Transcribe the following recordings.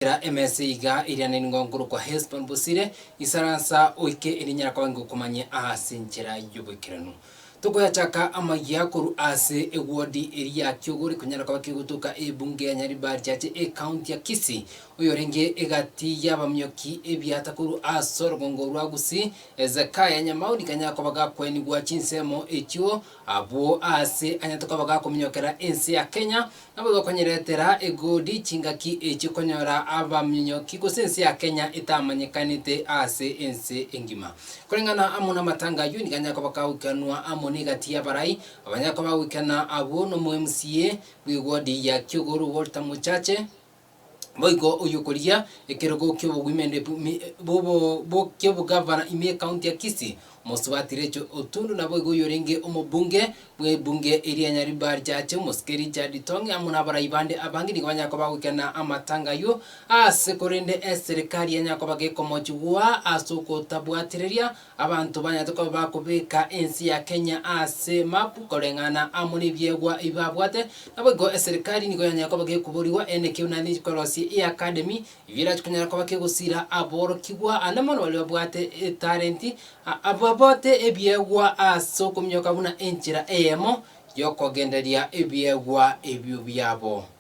Tera emesa iga eriananigwe nkorokwa Hesbon bosire, isaransa oike erinyara koba ingokumanye aase enchera y'oboikeranu. Tokoyachaka amayia korwa aase ewodi eri ya Kiogori konyara koba kegotoka ebunge ya Nyaribari ache ekaunti ya Kisii, oyorenge egati y'abamioki ebiata korwa aase orogongo rwa Gusii, Hezekiah Nyamauri kanyara koba gakwenigwa chinsemo echio Abwo aase anyete koba gakominyokera ense ya Kenya, nabo bakonyeretera egoodi chingaki echi konyora abaminyoki gose ense ya Kenya etamanyekanete aase ense engima. Koreng'ana amo namatanga ayio nigo anyare koba gagoikanwa amo negati y'abarai abanyare koba bagoikana abwo nomo MCA bw'egoodi ya Kiogoro Walter Mochache, Boigo oyio okorigia ekerogo ki'obogwimende bw'mi- bw'obo- bwo- ki'obogavana ime ekaunti ya Kisii, Omosubati Recho Otundu naboigo oyorenge omobunge bw'ebunge eria Nyaribari Chache omosike Richard Itong'e amo nabarai bande abange nigo banyare koba bagoikena amatanga ayio aase korende eserikari yanyare koba gekomochigua as'ogotabwatireria Abanto banyarete koba bakobeka ense ya Kenya ase map koreng'ana amo nebiegwa ebi babwate, naboigo eserikari nigo yanyare koba gekoborigwa ene ekero naende enkorosia eye academy ebi erache konyara koba kegosira aborokigwa ande mono baria babwate etalenti babote ebiegwa ase okominyoka buna enchera eyemo yokogendereria ebiegwa ebio biabo.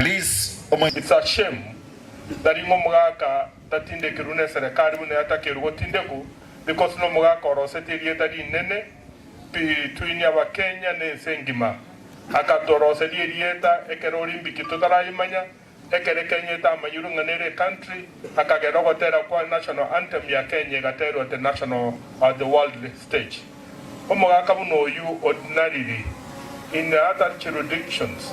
It's a shame tari ng'a omogaka tatindekirwe ne serekari buna yatakerwe gotindekwa because nomogaka oroseti erieta rinene between abakenya ne ense engima. Akatoroseria erieta ekero Olimpiki totarayemanya, ekero Kenya etamanyirwe ng'a nere ecountry akagera ogotera kwa national anthem ya Kenya egaterwa at the national or the world stage. Omogaka buna oyio ordinarily, in other juridictions,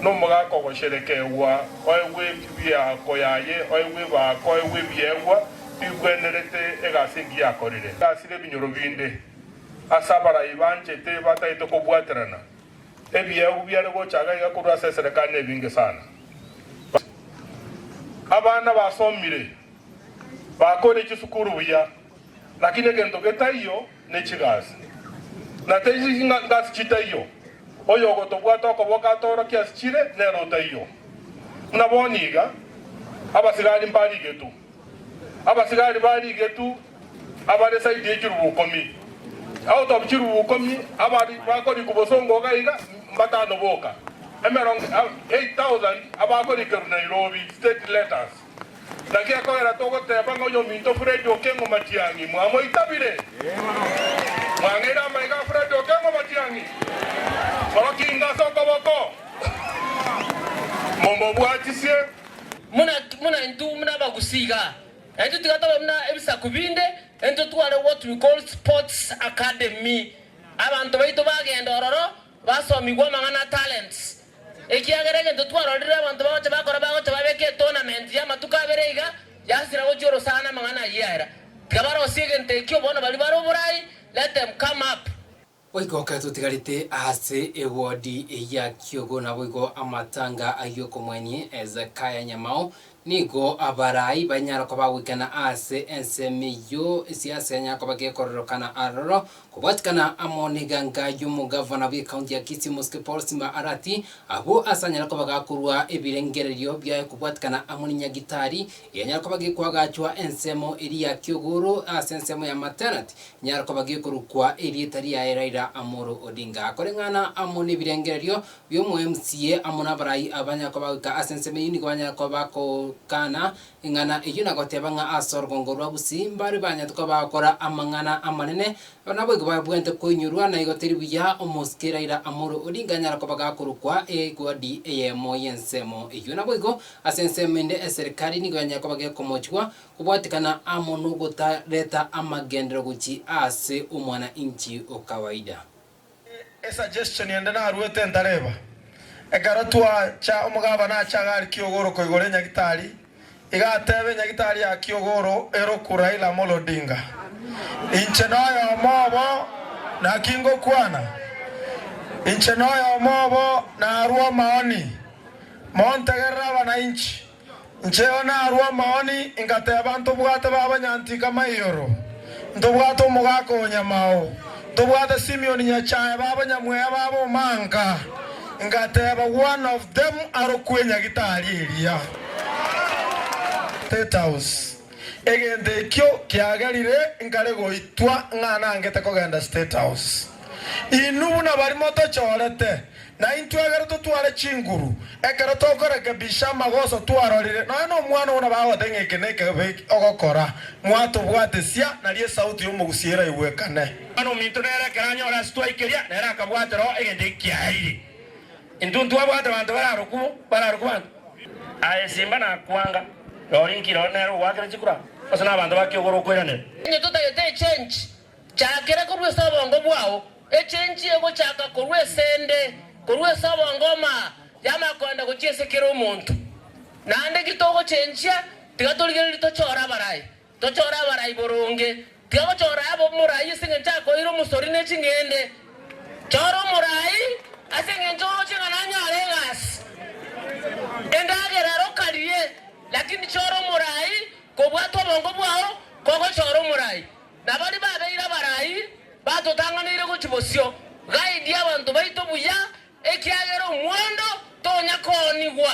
nomogaka ogosherekegwa, oegwe ebiako yaye, oegwe ebaako, oegwe ebiegwa bigwenerete egasi engiya akorire. Gasire ebinyoro binde ase abarai banchete batagete kobwaterana, ebiegwa biare gocha iga iga korwa ase eserekari nebinge sana. Abana basomire, bakoire chisukuru buya, Lakini egento getaiyo nechigasi, na teichingasi chitaiyo. Oyogotobwata okoboka atoorokie ase chire, nere otaiyo. Buna bono iga, abasigari mbarigetu. Abasigari barigetu abare saidi ye chirubu ikomi. Out of chirubu ikomi abare bakorikwa bosongo iga iga, mbatano boka. Emerongo 8,000 abakorikerwa Nairobi, state letters. Naki ekogera togoteeba ng'a oyominto Fred Okengo Matiang'i mwamoitabire? Mwang'eire amaiga a Fred Okengo Matiang'i? Orokinga ase okoboko, momobwatisie. Buna buna intwe buna abagusii iga, na intwe tiga tobe buna ebisaku binde, intwe tware what we call sports academy. Abanto baito bagenda ororo basomigwe amang'ana a talents, Ekiagera egento twarorire abanto bagocha bakora bagocha babeka etournament y'amatuko abere iga yasira gochia orosana amang'ana ayio yaera. Tiga barosie egento ekio bono baria bare oborai let them come up. Goika okare totigarete ase ewodi eye ya Kyogo naboigo amatanga ay'okomwenie Hezekiah Nyamao Nigo abarai banyara koba goikana ase ensemo eyio, esiasa enyara koba gekororokana aroro. Kobwatikana amo n'eganga y'omogavana bw'ekaunti ya Kisii Mosque Paul Simba Arati, abwo ase anyare koba gakorua ebirengererio biaye kobwatikana amo ne nyagitari enyare koba gekoagachwa ensemo eria ya Kiogoro ase ensemo ya Matenat nyare koba gekorokwa erieta riaye Raila Amolo Odinga. Koreng'ana amo n'ebirengererio y'omoemsie amo n'abarai abanyare koba goika ase ensemo eyio nigo banyare koba bagokana eng'ana eyio na goteba ng'a ase orogongo rwa Busi mbare banyete koba bagokora amang'ana amanene. Aba naboigo babwenerete koinyorwa, na igo teri buya omosike eraira amore oria inga anyare koba gakorokwa egwadi eyemo y'ensemo eyio. Naboigo ase ensemo ende eserikari nigo yanyare koba gekomochigwa kobwatekana amo nogotareta amagenderero gochia ase omwana inchi o kawaida. E suggestion ende naruete ntareba. Ekero twacha omogabana ache agari Kiogoro koigore Nyagitari iga atebe Nyagitari ya Kiogoro eroku Raila Amolo Odinga. Inche noyomo obo naki ngokwana. Inche noyomo obo narwa omaoni. Montegerere abanainchi. Ncheo narue omoni, ingateba, Ntobwate baba nyanti kama igoro, ntobwate omogaka o nyamao, ntobwate Simeon nyachae baba nyamweya baba omanka. Ingateba, One of them arokwe nyagitari eria. State House. Egento ekio kiagerire nkare goitwa ng'a nangete kogenda State House. Inwe buna bari motochorete. Na intwe ekero totware chinguru, ekero tokorekebisha amagoso twarorire, nonya nomwana buna bagote ng'a eke nekebe ogokora, mwatobwatesia, nario esauti y'omogusia eraigwekane. Bono ominto nere ekero anyore ase twaikeria, nere akabwate roho egento eki kiaeire. Intwe ntwabwate banto bararokwo, bararokwo banto. Aye simba nakwanga, nori nki roro nere ogwakera chikura, gose nabanto ba kiogoro okoiranera? Intwe totagete echenchi, Chakera korwa ase obongo bwao, echenchie gochaka korwa ase 'nde, korwa ase obongo omaa y'amakwanda gochia ase kera omonto. Naende ki togochenchia, tiga torigererie tochore abarai, tochore abarai boronge. Tiga gochora abe omorai ase engencho akoeire omosori ne ching'ende. Chora omorai ase engencho oroche ng'a nanyare egasi, endagera ero karie, lakini chora omorai kobwata obongo bwao kogochora omorai. Na baria babeire abarai batotang'aneire gochia bosio, Gaidie abanto baito buya, ekiagera omwando tonya koonigwa.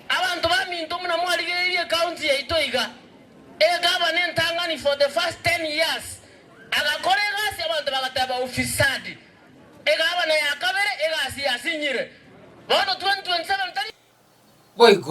Abanto baminto buna mwarigereirie ecounty yaito iga, egaba nentang'ani for the first ten years. Agakora egasi abanto bagateba ufisadi. Egabana ya kabere egasi yasinyire. Bono 2027 tari. Boigo